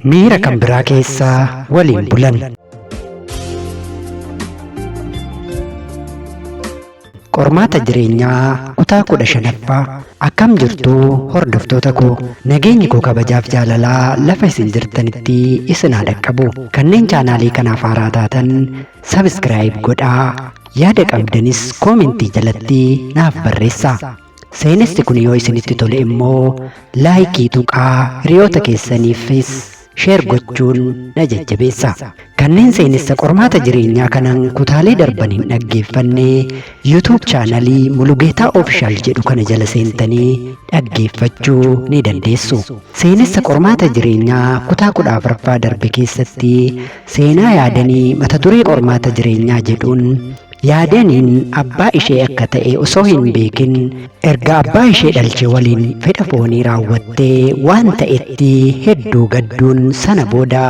Miira kan biraa keessa waliin bulan. Qormaata jireenyaa kutaa kudha shanaffaa akkam jirtu hordoftoota koo nageenyi koo kabajaaf jaalalaa lafa isin jirtanitti isin haa dhaqqabu kanneen chaanaalii kanaaf haaraa taatan sabiskiraayib godhaa yaada qabdanis koomentii jalatti naaf barreessaa. Seenessi kun yoo isinitti tole immoo laayikii tuqaa hiriyoota keessaniifis sheer gochuun na jajjabeessa. Kanneen seenessa qormaata jireenyaa kanan kutaalee darban hin dhaggeeffanne YouTube chaanalii Mulugeetaa Ofishaal jedhu kana jala seentanii dhaggeeffachuu ni dandeessu. Seenessa qormaata jireenyaa kutaa kudha afraffaa darbe keessatti seenaa yaadanii mata duree qormaata jireenyaa jedhuun Yaadaniin abbaa ishee akka ta'e osoo hin beekin erga abbaa ishee dhalche waliin fedha foonii raawwattee waan ta'etti hedduu gadduun sana booda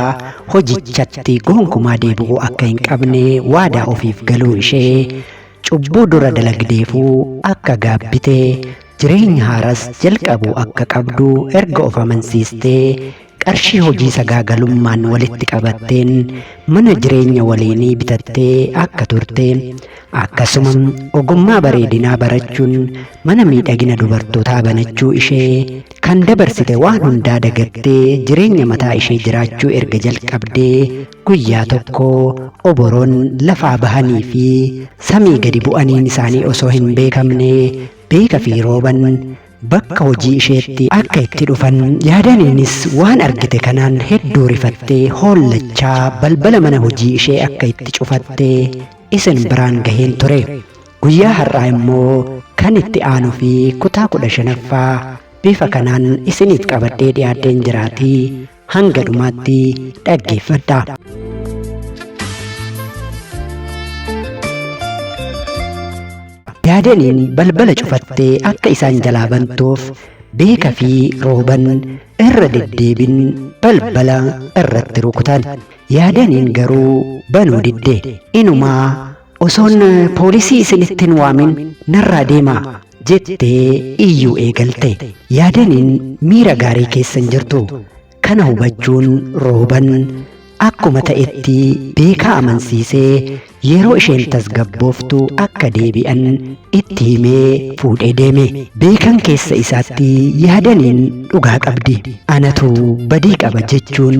hojichatti gonkumaa deebi'uu akka hin qabne waadaa ofiif galuu ishee cubbuu dura dalagdeefuu akka gaabbite jireenya haaras jalqabuu akka qabdu erga of amansiistee Qarshii hojii sagaagalummaan walitti qabatteen mana jireenya waliinii bitattee akka turte, akkasuma ogummaa bareedinaa barachuun mana miidhagina dubartootaa banachuu ishee, kan dabarsite waan hundaa dagattee jireenya mataa ishee jiraachuu erga jalqabdee guyyaa tokko oboroon lafaa bahanii fi samii gadi bu'aniin isaanii osoo hin beekamne Beeka fi Rooban bakka hojii isheetti akka itti dhufan yaadaniinis waan argite kanaan hedduu rifattee hoollachaa balbala mana hojii ishee akka itti cufatte isin biraan gaheen ture guyyaa har'aa immoo kan itti aanu fi kutaa kudha shanaffaa bifa kanaan isiniif qabadhee dhiyaadheen jiraatii Hanga dhumaatti dhaggeeffadha. Yaadaniin balbala cufattee akka isaan jalaa bantuuf beeka fi rooban irra deddeebin balbala irratti rukutan. Yaadaniin garuu banuu didde. Inumaa osoon poolisii isinittin waamin narraa deemaa jettee iyyuu eegalte yaadaniin miira gaarii keessa hin jirtu kana hubachuun rooban akkuma ta'etti beekaa amansiisee yeroo isheen tasgabbooftu akka deebi'an itti himee fuudhee deeme beekan keessa isaatti yaadaniin dhugaa qabdi anatu badii qaba jechuun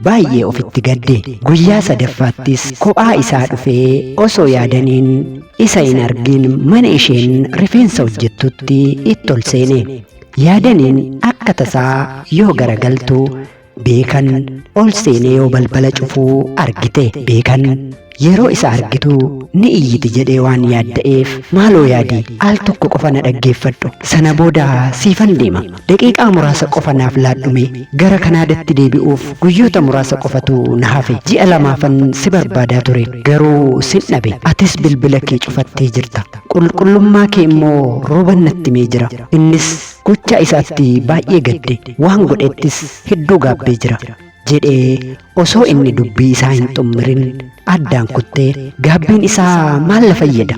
baay'ee ofitti gadde guyyaa sadaffaattis kophaa isaa dhufee osoo yaadaniin Isa hin argin mana isheen rifeensa hojjettutti itti ol seene. Yaadaniin akka tasaa yoo garagaltu beekan ol seenee yoo balbala cufuu argite. Beekan yeroo isa argitu ni iyyiti jedhee waan yaadda'eef maaloo yaadi al tokko qofa na dhaggeeffadhu sana booda siifan deema Daqiiqaa muraasa qofa naaf laadhumee. Gara Kanaadatti deebi'uuf guyyoota muraasa qofatu na hafe. Ji'a lamaafan si barbaadaa ture. Garuu sin dhabe. Atis bilbila kee cufattee jirta. Qulqullummaa kee immoo Rooban natti himee jira. Innis gochaa isaatti baay'ee gadde. Waan godhettis hedduu gaabbee jira. jedhee osoo inni dubbii isaa hin xummirin addaan kuttee gaabbiin isaa maal na fayyada?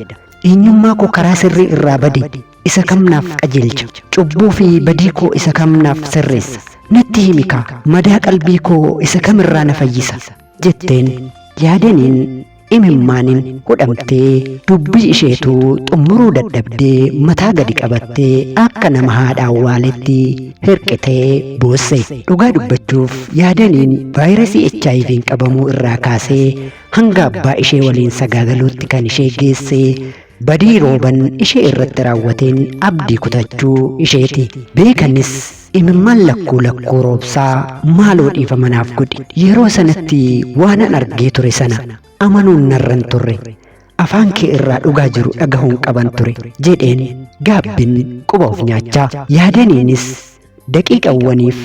Eenyummaa koo karaa sirrii irraa bade. isa kam naaf qajeelcha? Cubbuu fi badii koo isa kam naaf sirreessa? Natti himi kaa, madaa qalbii koo isa kam irraa na fayyisa? jetteen. Yaadaniin imimmaaniin hudhamtee dubbii isheetu xumuruu dadhabdee mataa gadi qabattee akka nama haadha awwaaletti hirqitee boosse. Dhugaa dubbachuuf yaadaniin vaayirasii HIV'n qabamuu irraa kaasee hanga abbaa ishee waliin sagaagaluutti kan ishee geesse Badii Rooban ishee irratti raawwateen abdii kutachuu isheeti. Beekanis imimmaan lakkuu lakkuu roobsaa maaloo dhiifama naaf godhi. Yeroo sanatti waanan argee ture sana amanuun narra hin turre. Afaan kee irraa dhugaa jiru dhagahuun qaban ture jedheen gaabbin quba of nyaachaa. Yaadaniinis Daqiiqawwaniif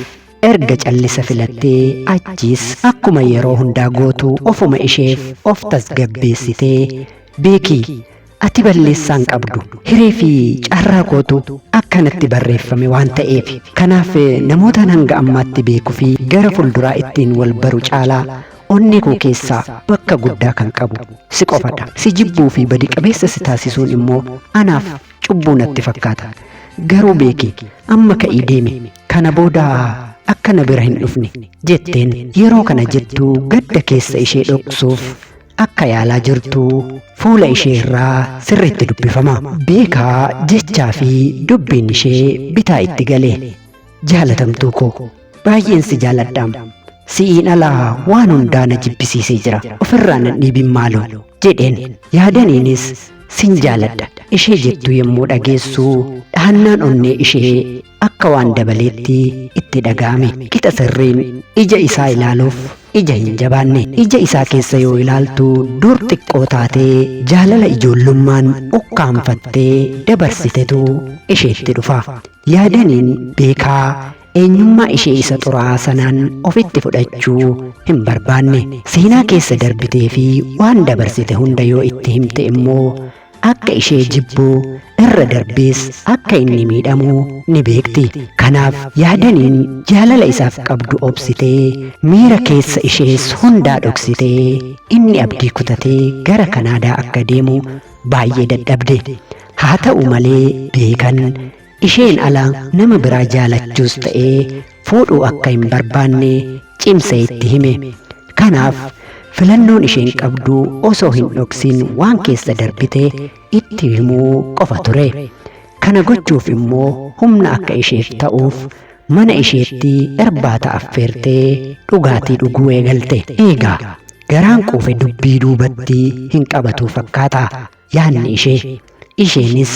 erga callisa filattee achiis akkuma yeroo hundaa gootu ofuma isheef of tasgabbeessitee beeki ati balleessaan qabdu hiree fi carraa kootu akkanatti barreeffame waan ta'eef kanaaf namootaan hanga ammaatti beeku fi gara fulduraa ittiin wal baru caalaa onnee koo keessaa bakka guddaa kan qabu si qofadha si jibbuu fi badi qabeessa si taasisuun immoo anaaf cubbuu natti fakkaata. Garuu beeki amma ka'ii deemi kana booda akka na bira hin dhufne jetteen yeroo kana jettu gadda keessa ishee dhoksuuf akka yaalaa jirtu fuula ishee irraa sirriitti dubbifama. Beekaa jechaa fi dubbiin ishee bitaa itti gale. Jaalatamtuu koo baay'een si jaaladhaam. Si'iin alaa waan hundaa na jibbisiisee jira. Ofirraa nan dhiibin maaloo jedheen. Yaadaniinis sin jaaladha ishee jettuu yommuu dhageessu dhahannaan onnee ishee akka waan dabaleetti itti dhaga'ame. Qixa sirriin ija isaa ilaaluuf ija hin jabaanne. Ija isaa keessa yoo ilaaltu dur xiqqoo taatee jaalala ijoollummaan ukkaamfattee dabarsitetu isheetti dhufa. Yaadaniin beekaa eenyummaa ishee isa xuraa'aa sanaan ofitti fudhachuu hin barbaanne. Seenaa keessa darbitee fi waan dabarsite hunda yoo itti himte immoo akka ishee jibbu irra darbees akka inni miidhamu ni beekti. Kanaaf yaadaniin jaalala isaaf qabdu obsitee miira keessa ishees hundaa dhoksitee inni abdii kutatee gara Kanaadaa akka deemu baay'ee dadhabde haa ta'u malee beekan isheen ala nama biraa jaalachuus ta'ee fuudhuu akka hin barbaanne cimsee itti hime kanaaf filannoon isheen qabdu osoo hin dhoksin waan keessa darbite itti himuu qofa ture kana gochuuf immoo humna akka isheef ta'uuf Mana isheetti irbaata affeertee dhugaatii dhuguu eegalte. Eegaa garaan quufe dubbii duubatti hin qabatuu fakkaata yaadni ishee. Isheenis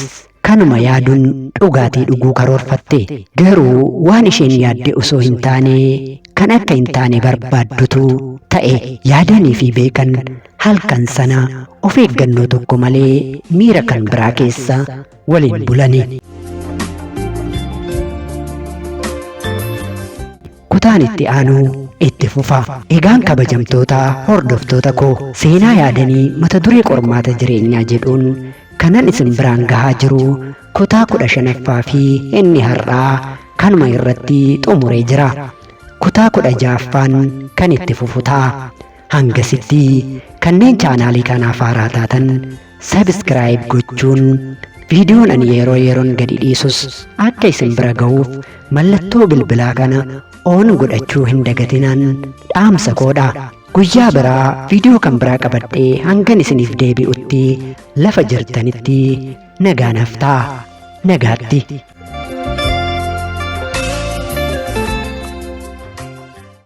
kanuma yaaduun dhugaatii dhuguu karoorfatte. Garuu waan isheen yaadde osoo hin taane kan akka hin taane barbaaddutu ta'e. Yaadanii fi beekan halkan sana of eeggannoo tokko malee miira kan biraa keessa waliin bulanii. Kutaan itti aanuu itti fufa. Egaan kabajamtoota hordoftoota koo seenaa yaadanii mata duree qormaata jireenyaa jedhuun kanan isin biraan gahaa jiru kutaa kudha shanaffaa fi inni har'aa kanuma irratti xumuree jira. Kutaa kudha ja'affaan kan itti fufu ta'a. Hangasitti kanneen chaanaalii kanaaf haaraa taatan sabiskiraayib gochuun viidiyoon ani yeroo yeroon gadi dhiisus akka isin bira gahuuf mallattoo bilbilaa kana oon godhachuu hin dagatinaan dhaamsa koodha. Guyyaa biraa viidiyoo kan biraa qabadhee hangan isiniif deebi'utti lafa jirtanitti nagaa naaf ta'a. Nagaatti.